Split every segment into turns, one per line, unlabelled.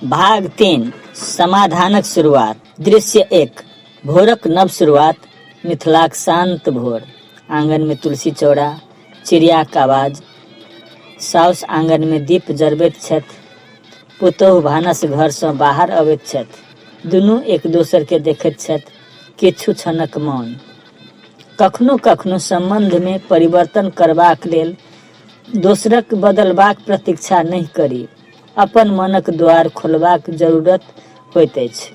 भाग तीन समाधानक शुरुआत दृश्य एक भोरक नव शुरुआत मिथिलाक शांत भोर आंगन में तुलसी चौड़ा चिड़ियाक आवाज साउस आंगन में दीप जरबैत छथि पुतोहु भानस घरसँ बाहर अबैत छथि दुनू एक दोसरके देखैत छथि किछु क्षणक मौन कखनो कखनो सम्बन्ध मे परिवर्तन करबाक लेल दोसरक बदलबाक प्रतीक्षा नहि करी। अपन मनक द्वार खोलबाक जरूरत होइत अछि।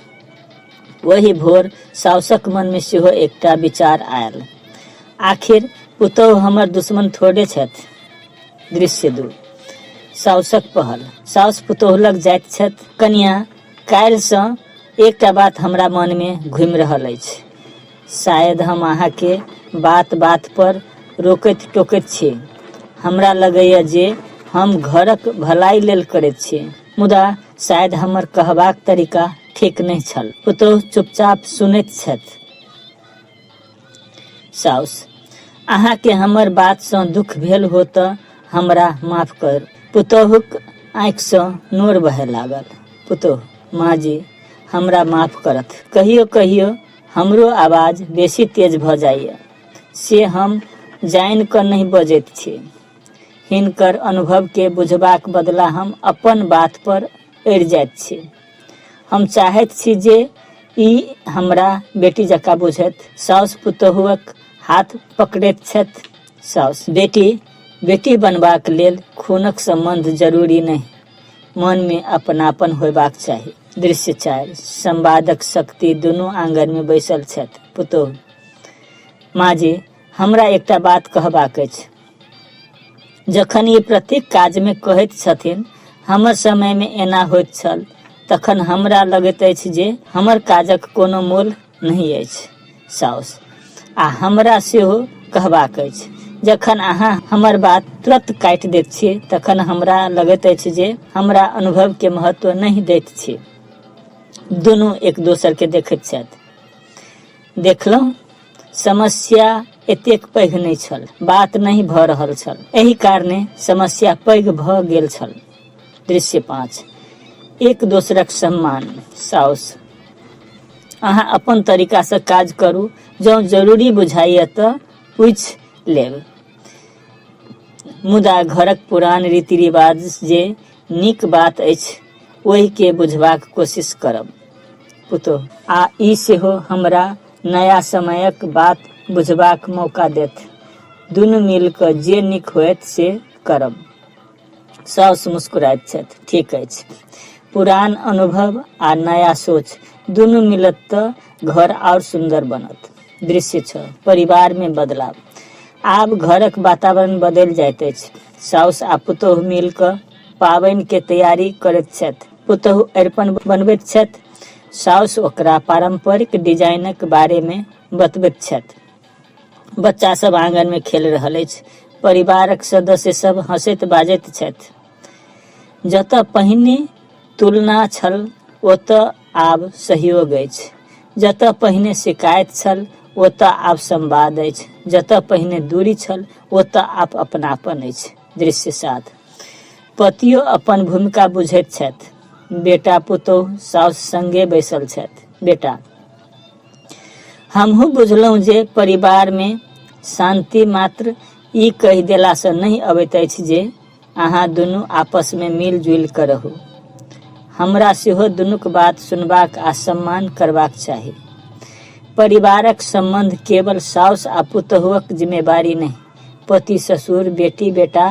ओहि भोर साउसक मन मे सेहो एकटा विचार आयल। आखिर पुतोहु हमर दुश्मन थोड़े छथि। दृश्य दू। साउसक पहल। साउस पुतोहु लग जाइत छथि। कनियाँ, काल्हि सँ एकटा बात हमरा मन मे घूमि रहल अछि। शायद हम अहाँके बात-बात पर रोकैत-टोकैत छी। हमरा लगैए जे हम घरक भलाइ लेल करैत छी। मुदा शायद हमर कहबाक तरीका ठीक नहि छल। पुतोहु चुपचाप सुनैत छथि। साउस, अहाँके हमर बातसँ दुख भेल हो तँ हमरा माफ करू। पुतोहुक आँखिसँ नोर बहए लागल। पुतोहु, माँजी, हमरा माफ करथि। कहियो-कहियो हमरो आवाज बेसी तेज भऽ जाइए से हम जानि कऽ नहि बजैत छी हिनकर अनुभवके बुझबाक बदला हम अपन बात पर अड़ि जाइत छी हम चाहैत छी जे ई हमरा बेटी जकाँ बुझैत साउस पुतोहुक हाथ पकड़ैत छथि साउस बेटी बेटी बनबाक लेल खूनक सम्बन्ध जरूरी नहि मनमे अपनापन होयबाक चाही दृश्य चारि संवादक शक्ति दुनू आंगन में बैसल छथि पुतोह माँ जी हमरा एकटा बात कहबाक अछि जखन ई प्रत्येक काजमे कहैत छथिन हमर समयमे एना होइत छल तखन हमरा लगैत अछि जे हमर काजक कोनो मोल नहि अछि साउस आ हमरा सेहो कहबाक अछि जखन अहाँ हमर बात तुरत काटि दैत छी तखन हमरा लगैत अछि जे हमरा अनुभवके महत्व नहि दैत छी दुनू एक दोसरके देखैत छथि देखलहुँ समस्या एतेक पैघ नहि छल बात नहि भऽ रहल छल एहि कारणे समस्या पैघ भऽ गेल छल दृश्य पाँच एक दोसरक सम्मान साउस अहाँ अपन तरीकासँ काज करू जँ जरूरी बुझाइए तऽ पूछि लेब मुदा घरक पुरान रीति रिवाज जे नीक बात अछि ओहिके बुझबाक कोशिश करब पुतोह आ ई सेहो हमरा नया समयक बात बुझबाक मौका देत दुनू मिल कऽ जे नीक होयत से करब साउस मुस्कुराइत छथि ठीक अछि पुरान अनुभव आ नया सोच दुनू मिलत तऽ घर आओर सुन्दर बनत दृश्य छओ परिवारमे बदलाव आब घरक वातावरण बदलि जाइत अछि साउस आ पुतोहु मिल कऽ पाबनिके तैयारी करैत छथि पुतोहु अरिपन बनबैत छथि साउस ओकरा पारम्परिक डिजाइनक बारेमे बतबैत छथि बच्चा सब आंगन में खेल रहल अछि परिवारक सदस्य सब हंसैत बाजैत छथि जतऽ पहिने तुलना छल ओतऽ आब सहयोग अछि जतऽ पहिने शिकायत छल ओतऽ आब संवाद अछि जतऽ पहिने दूरी छल ओतऽ आब अपनापन अछि दृश्य साथ पतियो अपन भूमिका बुझैत छथि बेटा पुतोह साउस संगे बैसल छथि बेटा हमहूँ बुझलहुँ जे परिवारमे शान्ति मात्र ई कहि देलासँ नहि अबैत अछि जे अहाँ दुनू आपसमे मिलजुलि कऽ रहू हमरा सेहो दुनूक बात सुनबाक आ सम्मान करबाक चाही परिवारक सम्बन्ध केवल साउस आ पुतहुक जिम्मेवारी नहि पति ससुर बेटी बेटा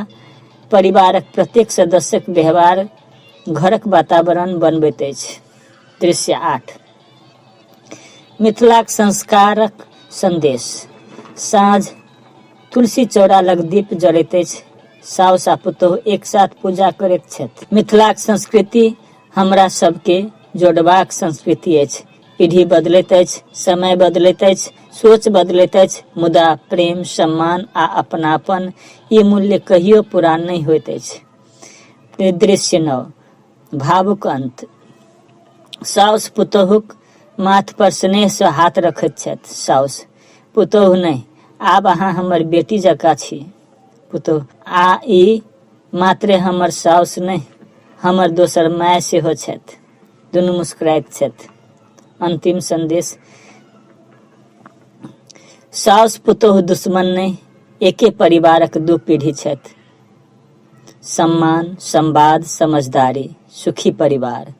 परिवारक प्रत्येक सदस्यक व्यवहार घरक वातावरण बनबैत अछि दृश्य आठ मिथिलाक संस्कारक संदेश साँझ तुलसी चौरा लग दीप जड़ैत अछि साउस आ पुतोह एक साथ पूजा करैत छथि मिथिलाक संस्कृति हमरा सबके जोड़बाक संस्कृति अछि पीढ़ी बदलैत अछि समय बदलैत अछि सोच बदलैत अछि मुदा प्रेम सम्मान आ अपनापन ई मूल्य कहियो पुरान नहि होइत अछि दृश्य नव भावुक अंत साउस पुतोहुक माथ पर स्नेह से हाथ रखैत छथि साउस पुतोहु नहि आब अहाँ हमर बेटी जकाँ छी पुतोहु आ ई मात्रे हमर साउस नहि हमर दोसर माय सेहो छथि दुनू मुस्कुराइत छथि अंतिम संदेश साउस पुतोहु दुश्मन नहि एके परिवारक दू पीढ़ी छथि सम्मान संवाद समझदारी सुखी परिवार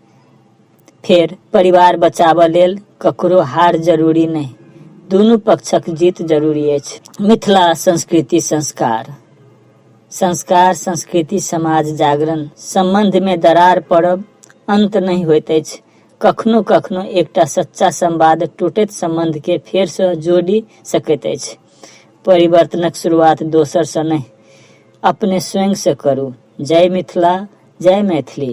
फेर परिवार बचाबऽ लेल ककरो हार जरूरी नहि दुनू पक्षक जीत जरूरी अछि मिथिला संस्कृति संस्कार संस्कार संस्कृति समाज जागरण सम्बन्धमे दरार पड़ब अन्त नहि होइत अछि कखनो कखनो एकटा सच्चा संवाद टूटैत सम्बन्धके फेरसँ जोड़ि सकैत अछि परिवर्तनक शुरुआत दोसरसँ नहि अपने स्वयं से करू जय मिथिला जय मैथिली